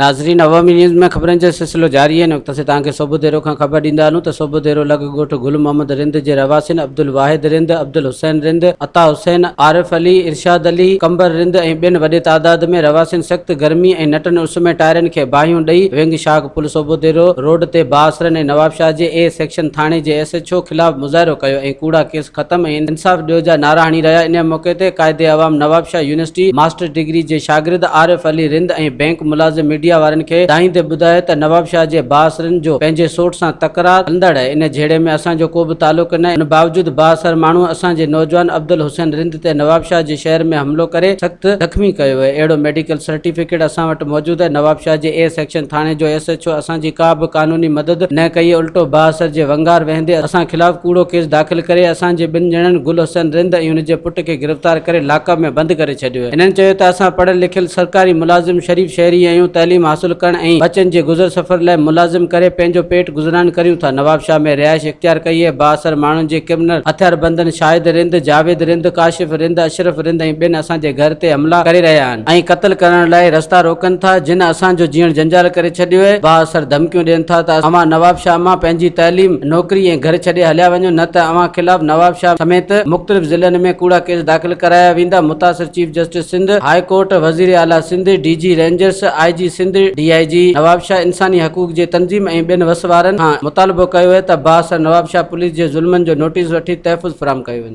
ناظرين عوامي نيوز ۾ خبرن جو سلسلو جاري آهي ان وقت اسين توهان کي صوبو ديرو کان خبر ڏيندا هلون ته صوبو ديرو لڳ ڳوٺ گل محمد رند جي رهواسين عبدالواحد رند عبدالحسين رند عطا حسين عارف علي ارشاد علي قمبر رند ۽ ٻين وڏي تعداد ۾ رهواسين سخت گرمي ۽ نٽن اس ۾ ٽائرن کي باهيون ڏئي ونگ شاخ پل صوبو ديرو روڊ تي بااثرن ۽ نوابشاهه جي اي سيڪشن ٿاڻي جي ايس ايڇ او خلاف مظاهرو ڪيو ۽ ڪوڙا ڪيس ختم ۽ انصاف ڏيو جا نعرا هڻي رهيا انهيء موقعي تي Quaid Awam Nawabshah university master degree جي شاگرد عارف علي رند ۽ بئنڪ ملازم ميڊيا وارن کي ڊاهيندي ٻڌايو ته نوابشاهه جي بااثرن جو پنهنجي سوٽ سان تڪرار هلندڙ آهي ان جهيڙي ۾ اسان جو ڪو به تعلق نه ان باوجود بااثر ماڻهو اسان جي نوجوان عبدالحسين رند تي نوابشاهه جي شهر ۾ حملو ڪري سخت زخمي ڪيو ويو اهڙو ميڊيڪل سرٽيفڪيٽ اسان وٽ موجود آهي نوابشاهه جي اي سيڪشن ٿاڻي جو ايس ايڇ او اسان جي ڪا به قانوني مدد نه ڪئي الٽو بااثر جي ونگار وهندي اسان خلاف ڪوڙو ڪيس داخل ڪري اسان جي ٻن ڄڻن گل حسين رند ۽ هن جي پٽ کي گرفتار ڪري لاڪ اپ ۾ بند ڪري ڇڏيو هنن چيو ته اسان پڙهيل لکيل سرڪاري ملازم شريف شهري آهيون تعليم حاصل ڪرڻ ۽ ٻچن جي گذر سفر لاء ملازم ڪري پنهنجو پيٽ گذران ڪريون ٿا نوابشاهه ۾ رهائش اختيار ڪئي اهي بااثر ماڻهن جي ڪرمنل هٿياربندن شاهد رند جاويد رند ڪاشف رند اشرف رند ۽ ٻين اسان جي گهر تي حملا ڪري رهيا آهن. ۽ قتل ڪرڻ لاء رستا روڪن ٿا جن اسان جو جيئڻ جنجال ڪري ڇڏيو اهي با اثر ڌمڪيون ڏين ٿا ته اوهان نواب شاهه مان پنهنجي تعليم نوڪري ۽ گهر ڇڏي هليا وڃو نه ته اوهان خلاف نواب شاهه سميت مختلف ضلعن ۾ ڪوڙا ڪيس داخل ڪرايا ويندا متاثر chief justice Sindh high court وزير اعليٰ Sindh D G Rangers I G Sindh D I G Nawabshah انساني حقوق جي تنظيم ۽ ٻين وس وارن کان مطالبو ڪيو اهي ته با اثر نواب شاهه پوليس جي ظلمن جو نوٽيس وٺي تحفظ فراهم ڪيو وڃي.